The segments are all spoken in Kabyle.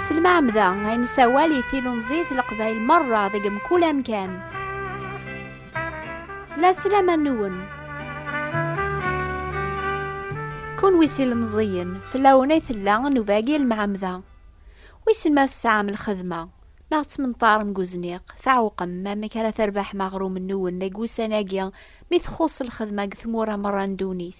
Selmaɛmda ay nessawal i tilumẓit n Leqbayel merra deg mkul amkan. La sslam-nwen. Kunwi s ilemẓiyen, fell-awen ay tella nnuba-agi n lemɛemda. Wissen ma tesɛam lxedma. Neɣ ttmenṭaren deg uzniq, tɛewqem amek ara terbaḥem aɣrum-nwen deg wussan-agi mi txuṣṣ lxedma deg tmura merra n ddunit?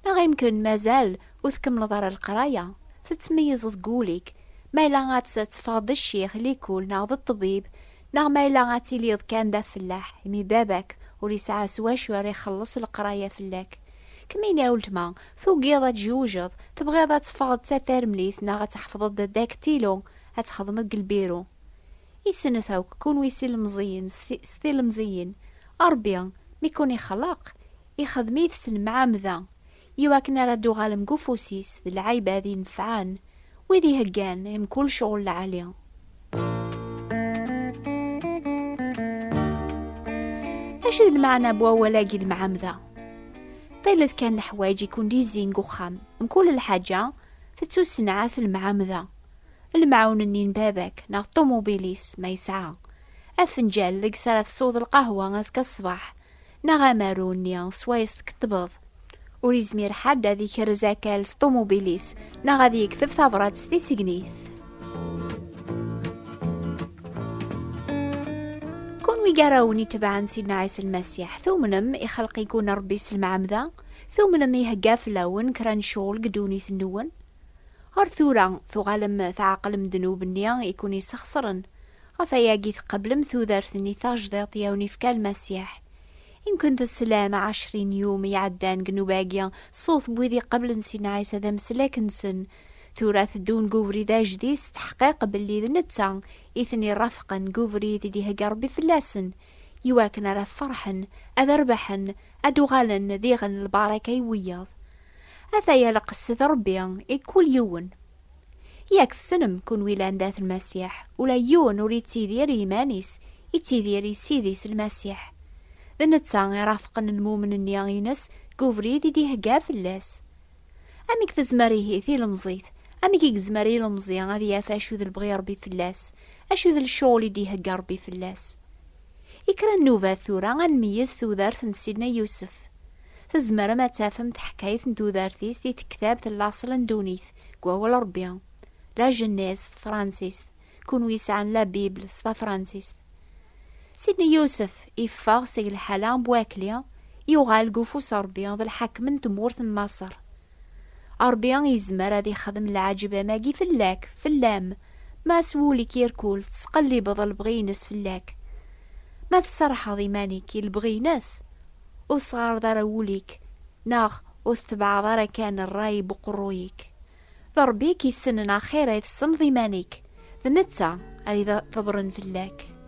Neɣ imken mazal ur tkemmleḍ ara leqraya, tettmeyyizeḍ deg wul-ik ma yella ad teffɣeḍ d ccix, likul, neɣ d ṭṭbib, neɣ ma yella ad tiliḍ kan d afellaḥ imi baba-k ur yesɛa s wacu ara ixelleṣ leqraya fell-ak? Kemmini a weltma, tugiḍ ad tjewjeḍ, tebɣiḍ ad teffɣeḍ d tatarmlit neɣ ad tḥefḍeḍ d adaktilu, ad txedmeḍ deg lbiru. I snet akk, kunwi s ilemẓiyen, s tilemẓiyin, Ṛebbi, mi ken-ixleq, ixdem-it s lemɛamda, i wakken ara d-tuɣalem deg ufus-is d lɛibad inefɛen, wid iheggan i mkul cɣel lɛali. Acu d lmeɛna n wawal-agi lemɛamda? Ṭilet kan leḥwayeǧ i ken-d-yezzin deg uxxam, mkul lḥaǧa tettusenɛa s lemɛamda. lemɛun-nni n baba-k neɣ ṭumubil-is ma yesɛa, afenǧal deg s ara tesweḍ lqahwa azekka ṣṣbeḥ, neɣ amaru-nni s wayes tkeṭṭbeḍ. Ur yezmir ḥedd ad ikerrez akal s ṭumubil-is neɣ ad yekteb tabṛat s tisegnit. Kunwi gar-awen itebɛen Sidna Ɛisa Lmasiḥ, tumnem ixelq-iken Ṛebbi s lemɛemda? Tumnem ihegga fell-awen kra n ccɣel deg ddunit-nwen? Ar tura, tuɣalem tɛeqlem ddnub-nni i ken-isexṣren. Ɣef ayagi teqblem tudert-nni tajdiṭ i awen-ifka Lmasiḥ. I nkent-slam ɛecrin yum iɛeddan deg nnuba-agi ṣṣut n wid iqeblen Sidna Ɛisa d ameslak-nsen. Tura tteddun deg ubrid ajdid s teḥqiq belli d netta i ten-irafqen deg ubrid i d-ihegga Rebbi fell-asen, i wakken ara ferḥen, ad rebḥen, ad d-uɣalen d iɣen n lbaraka i wiyaḍ. Ata ya lqess d Rebbi i kul yiwen. Yak tessnem, kunwi llan dat Lmasiḥ, ula yiwen ur ittidir i yiman-is, ittidir i Ssid-is Lmasiḥ. D netta i rafqen lmumen-nni ines deg ubrid i d-ihegga fell-as. Amek tezmer ihi tilemẓit, amek i yezmer ilemẓi ad yaf acu d lebɣi Rebbi fell-as, acu d lecɣel i d-ihegga Rebbi fell-as? I kra n nnubat tura ad nmeyyez tudert n Sidna Yusef. Tzemrem ad tafem taḥkayt n tudert-is di tektabt Laṣel n ddunit deg wawal n Ṛebbi, La Genèse s tefransist, kunwi yesɛan La Bible s tafransist. Sidna Yusef iffeɣ seg lḥala n Buɛekli, yuɣal deg ufus n Ṛebbi d lḥakem n tmurt n Maṣer. Ṛebbi yezmer ad ixdem leɛǧeb am agi fell-ak, fell-am, ma s wul-ik irkul teţqellibeḍ lebɣi-ines fell-ak. Ma tserrḥeḍ iman-ik i lebɣi-ines, ur tesɣaṛeḍ ara wul-ik neɣ ur teţebɛeḍ ara kan ṛṛay n uqeṛṛuy-ik, d Ṛebbi i k-yessnen axir ay tessneḍ iman-ik, d neţţa ara iḍebren fell-ak.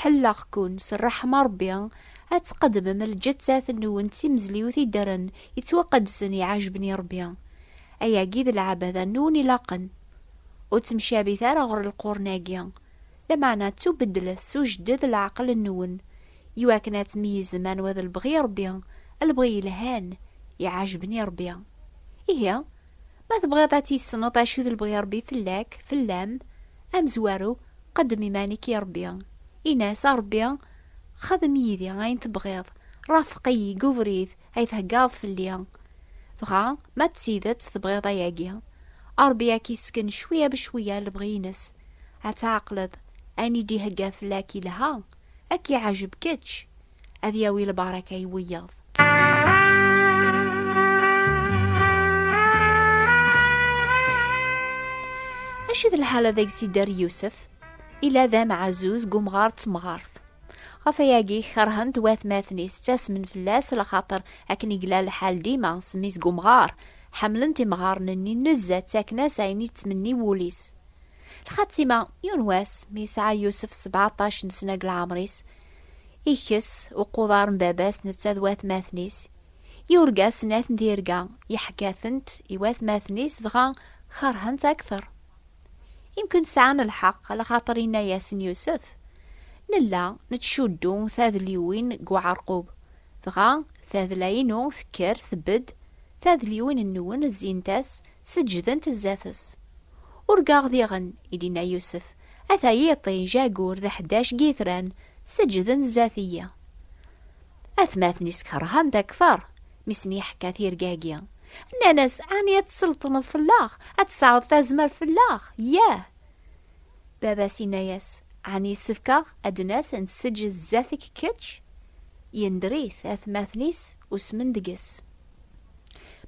Ḥelleɣ-ken s ṛṛeḥma n Ṛebbi ad tqeddmem lǧettat-nwen d timezliwt i ddren yettwaqedsen iɛejben i Ṛebbi. Ayagi d lɛebada-nwen ilaqen. Ur ttemcabit ara ɣer lqurn-agi, lameɛna ttubeddlet s ujedded n leɛqel-nwen, iwakken ad tmeyyzem anwa d lebɣi n Ṛebbi, lebɣi yelhan, iɛejben i Ṛebbi. Ihi, Ma tebɣiḍ ad tissneḍ acu d lebɣi Ṛebbi fell-ak, fell-am, amezwaru, qeddem iman-ik i Ṛebbi. Ini-as, A Ṛebbi, xdem yid-i ayen tebɣiḍ, ṛafeq-iyi deg ubrid ay theggaḍ fell-i. Dɣa, ma d tidet tebɣiḍ ayagi, Ṛebbi ad k-yessken cwiya becwiya lebɣi-nnes, ad tɛeqleḍ ayen i d-ihegga fell-ak yelha, ad k-yeɛjeb kečč, ad yawi lbaraka i wiyaḍ. Acu d lḥal ad agsidar Yusef? Ila d amɛazuz g umɣar d temɣart. Ɣef ayagi kerhen-t watmaten-is ttasmen fell-as lxaṭer akken i yella lḥal dima s mmi-s g umɣar. Ḥemmlen-t imɣaren-nni nezza ttaken-as ayen i ttmenni wul-is. Lxatima, yiwen wass, mi yesɛa Yusef sebɛṭac n sna g lɛemr-is, Ikkes uquḍar n baba-s netta d watmaten-is i urgaz n At n Tirga, yeḥka-tent i watmaten-is dɣa kerhen-tt akteṛ. Imkun sɛan lḥeqq lxaṭer inna-yasen Yusef, Nella nettcuddu tadliwin n uɛerqub, dɣa tadla-inu tekker tbedd, tadliwin-nwen zzint-as, seǧǧdent zdat-s. Urgaɣ diɣen, i d-inna Yusef, Ata yiṭij ayyur d ḥdac n yitran seǧǧden zdat-iyi. Atmaten-is kerhen-t akteṛ mi sen-yeḥka tirga-agi. Nnan-as, Ɛni ad tselṭneḍ fell-aɣ, ad tesɛuḍ tazmert fell-aɣ? Yah! Baba-s yenna-yas, Ɛni yessefk-aɣ ad d-nas ad nesseǧǧed zdat-k kečč? Yender-it, atmaten-is usmen deg-s.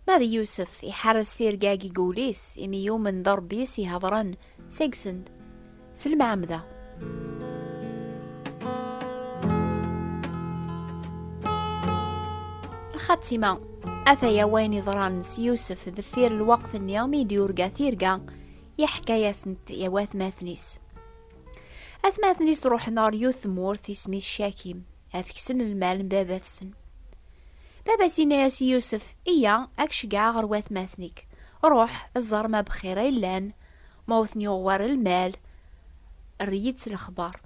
Ma d Yusef, iḥerres tirga-agi deg wul-is, imi yumen d Ṛebbi i s-ihedṛen, Seg-send, s lemɛamda. Lxatima, ataya wayen iḍran s Yusef deffir lweqt-nni mi d-yurga tirga, yeḥka-yasent i watmaten-is. Atmaten-is ruḥen ɣer yiwet tmurt isem-is Cakim. ad teksen lmal n baba-tsen. Baba-s yenna-yas i Yusef, Iya, ad k-ceggɛeɣ ɣer watmaten-ik. Ruḥ, ẓer ma bxir ay llan, ma ur ten-yuɣ war lmal, err-iyi-d s lexbar.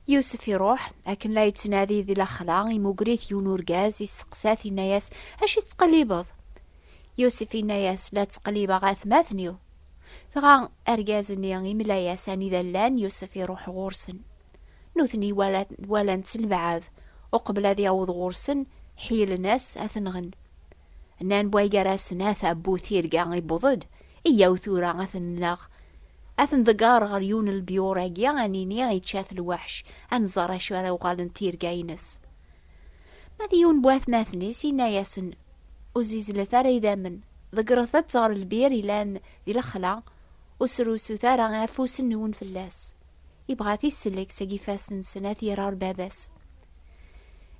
Yusef iruḥ, akken la yettnadi di lexla, imugger-it yiwen urgaz, yesteqsa-t, yenna-yas, Acu tettqellibeḍ? Yusef yenna-yas, La ttqellibeɣ atmaten-iw. Dɣa argaz-nni imla-yas anida llan, Yusef iruḥ ɣur-sen. Nutni walan-tt lbeɛɛed, uqbel ad yaweḍ ɣur-sen, ḥeylen-as ad t-nɣen. Nnan way gar-asen, a tabbu tirga iwweḍ-d, iyyaw tura ad t-nneɣ. Ad t-nḍegger ɣer yiwen n lbyur-agi, ad nini ičča-t lweḥc, ad nẓer acu ara uɣalent tirga-ines. Ma d yiwen n watmaten-is, yenna-yasen, Ur zizlet ara idammen, ḍeggret-tt ɣer lbir yellan di lexla, ur srusut ara afus-nwen fell-as. Yebɣa ad t-isellek seg ifassen-nsen, ad t-yerr ɣer baba-s.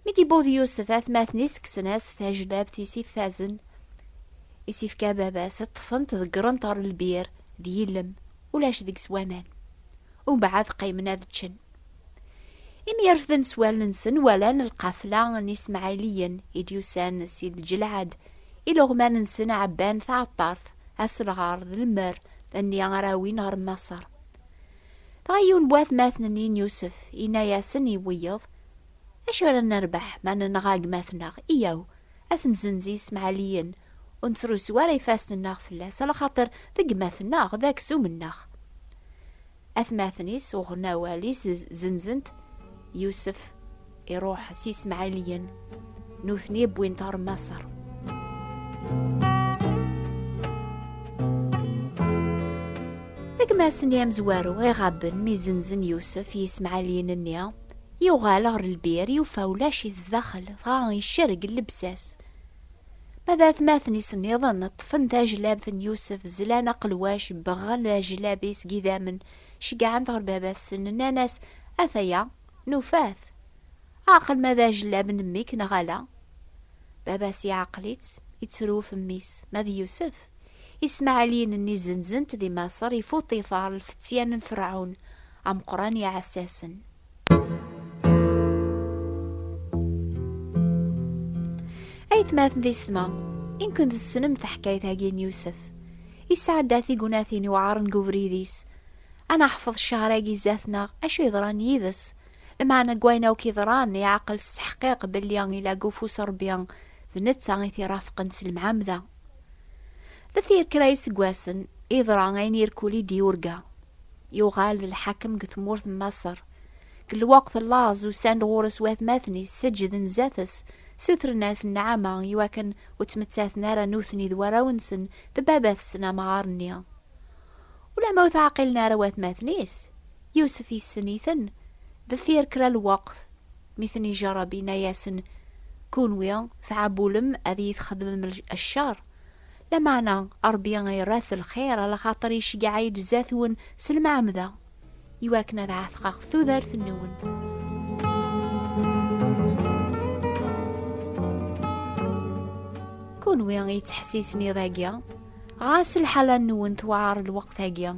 Mi d-yewweḍ Yusef, atmaten-is kksen-as tajlabt i s-ifazen, i s-ifka baba-s, ṭṭfen-t ḍeggren-t ɣer lbir, d yillem, ulac deg-s waman. Umbeɛd qqimen ad ččen. Imi yerfden s wallen-nsen, walan lqafla n Ismaɛiliyen i d-yusan si Lǧelɛad, iluɣman-nsen ɛebban taɛeṭṭart, aselɣar d lemmer nni ara awin ɣer Maṣer. Dɣa yiwen n watmaten-nni n Yusef yenna-yasen i wiyeḍ, Acu ara nerbeḥ ma nenɣa gma-tneɣ? Iyyaw, ad t-nzenz i yismaɛliyen, ur nettrusu ara ifassen-nneɣ fell-as, ala xaṭer d gma-tneɣ, d aksum-nneɣ. Atmaten-is uɣen awal-is, zenzen-t Yusef. Iruḥ s Ismaɛiliyen, nutni wwin-t ɣer Maṣer. Agmas-nni amezwaru iɣaben mi zenzen Yusef i yismaɛaliyen-nni, yuɣal ɣer lbir, yufa ulac-it zdaxel, dɣa icerreg llebsa-s. Ma d atmaten-is nniḍen, ṭṭfen tajlabt n Yusef, zlan aqelwac, beɣɣen ajlab-is n yidammen, ceggɛen-t ɣer baba-tsen, nnan-as, Ataya, Nufa-t. Ɛqel ma d ajellab n mmi-k neɣ ala. Baba-s iɛqel-itt, ittruf mmi-s, ma d Yusef. Ismaɛiliyen-nni zenzen-t di Maṣer i Fuṭifar, lfettyan n Ferɛun ameqqran iɛessasen. Aytmaten d isetma, i nken tessnem taḥkayt-agi n Yusef. Isɛedda tignatin iwɛaren deg ubrid-is. Ad naḥfeḍ ccehr-agi zdat-neɣ acu yeḍran yid-s. Lmeɛna n wayen akk yeḍran, iɛqel s teḥqiq belli ila deg ufus n Rebbi, d netta i t-irafqen s lemɛamda. Deffir kra n yiseggasen, yeḍra ayen irkul i d-yurga. Yuɣal d lḥakem deg tmurt n Maṣer. Deg lweqt n laẓ, usan-d ɣur-s watmaten-is, seǧǧden zdat-s, ssutren-as nneɛma, i wakken ur ttmettaten ara nutni d warraw-nsen d baba-tsen amɣar-nni. Ula ma ur teɛqilen ara watmaten-is, Yusef yessen-iten, deffir kra n lweqt mi ten-ijerreb yenna-yasen, Kunwi tɛabulem ad iyi-txedmem ccer, lameɛna Ṛebbi irra-t lxir, alaxaṭer iceggeɛ-iyi-d zdat-wen s lemɛemda. iwakken ad ɛetqeɣ tudert-nwen. Kunwi yettḥessisen iḍ-agi, ɣas lḥala-nwen tewɛer lweqt-agi.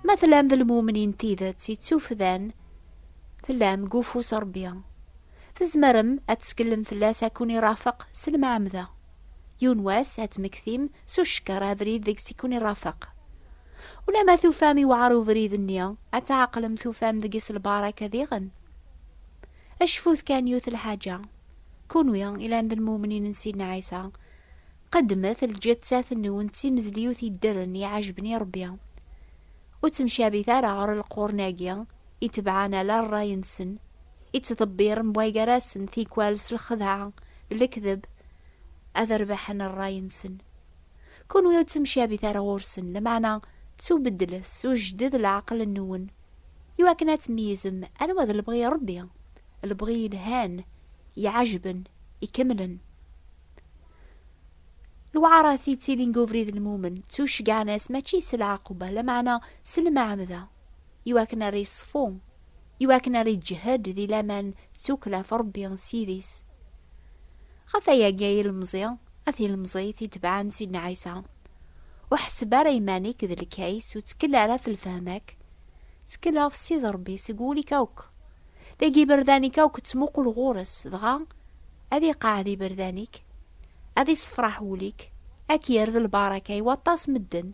Ma tellam d lmumnin tidet yettufdan, tellam deg ufus Rebbi. Tzemrem ad teskellem fell-as ad kun-irafeq s lemɛemda. Yiwen wass ad tmektim s ucekker abrid deg-s i kun-irafeq. Ulamma tufam iwɛer ubrid-nni, ad tɛeqlem tufam deg-s lbaraka diɣen. Acfut kan yiwet lḥaǧa, kunwi ilan d lmumnin n Sidna Ɛisa, qeddmet lǧettat-nwen d timezliwt iddren iɛejben i Ṛebbi. Ur ttemcabit ara ɣer lqurn-agi itebɛen ala ṛṛay-nsen, ittḍebbiren bwaygar-asen tikwal s lxedɛa d lekdeb ad rebḥen ṛṛay-nsen. Kunwi ur ttemcabit ara ɣur-sen, lameɛna ttubeddlet s ujded leɛqel-nwen, i wakken ad tmeyyzem anwa d lebɣi n Ṛebbi, lebɣi yelhan, iɛejben, ikemlen. Lewɛaṛat i ttilin deg ubrid n lmumen, ttuceggɛen-as mačči s lɛaquba, lameɛna s lmeɛmda, i wakken ara yeṣfu i wakken ara iǧhed di laman d tukkla ɣef Rebbi s yid-is. Ɣef ayagi ay ilemẓi, a tilemẓit itebɛen Sidna Ɛisa, ur ḥesseb ara iman-ik d lkays, ur ttkel ara ɣef lfehma-k, ttkel ɣef Ssid Rebbi seg wul-ik akk. Dagi iberdan-ik akk ttmuqul ɣur-s, dɣa ad iqeɛɛed iberdan-ik, ad issefraḥ wul-ik, ad k-yerr d lbaraka i waṭas medden.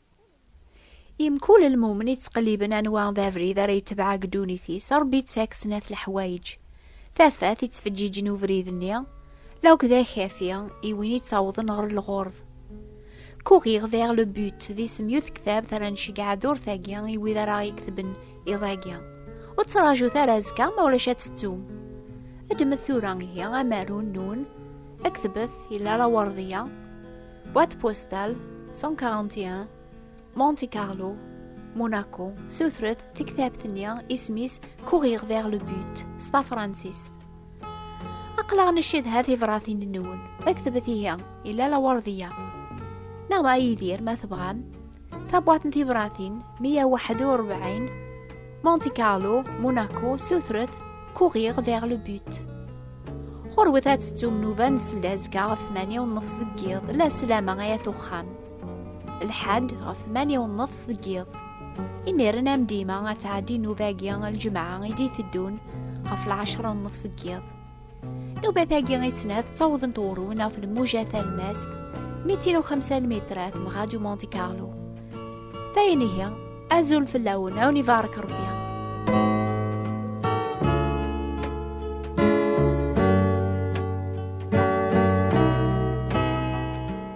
Imkul lmumen yettqelliben anwa d abrid ara yetbeɛ deg ddunit-is, Ṛebbi yettak snat leḥwayeǧ. Tafat yettfeǧǧiǧen ubrid-nni, lawk d akafi i win yettawḍen ɣer lɣurḍ. Courir vers le but d isem yiwet tektabt ara nceggeɛ ad urtagi i wid ara aɣ-yeketben iḍ-agi. Ur ttraǧut ara azekka ma ulac ad tettum. Ddmet tura ihi amaru, nnun, ad ketbet, yella laweṛḍ-ya. Boîte postale 141 Monte Carlo Monaco Sutret tektabt-nni isem-is Courir vers le but s tafransist Aqlaɣ ncedha tibratin-nwen ma ktbet ihi illa lawardiya neɣ ma Yidir ma tebɣam Tabwat n tibratin 141 Monte Carlo, Monaco, sutret, courir vers le but. Ɣurwet ad tettum nuba n sella azekka ɣef 8 u nnefs deg yiḍ, la sslam-a ay at uxxam. Lḥad ɣef 8 u nnefs deg yiḍ. Imiren am dima ad tɛeddi nuba-agi ljemɛa i d-iteddun ɣef lɛecra u nnefs deg yiḍ. Nubat-agi i snat ttawḍent urun ɣef lmuja talmast 250 mitrat m Radio Monte Carlo. Dayen ihi, azul fell-awen, awen ibarek Rebbi.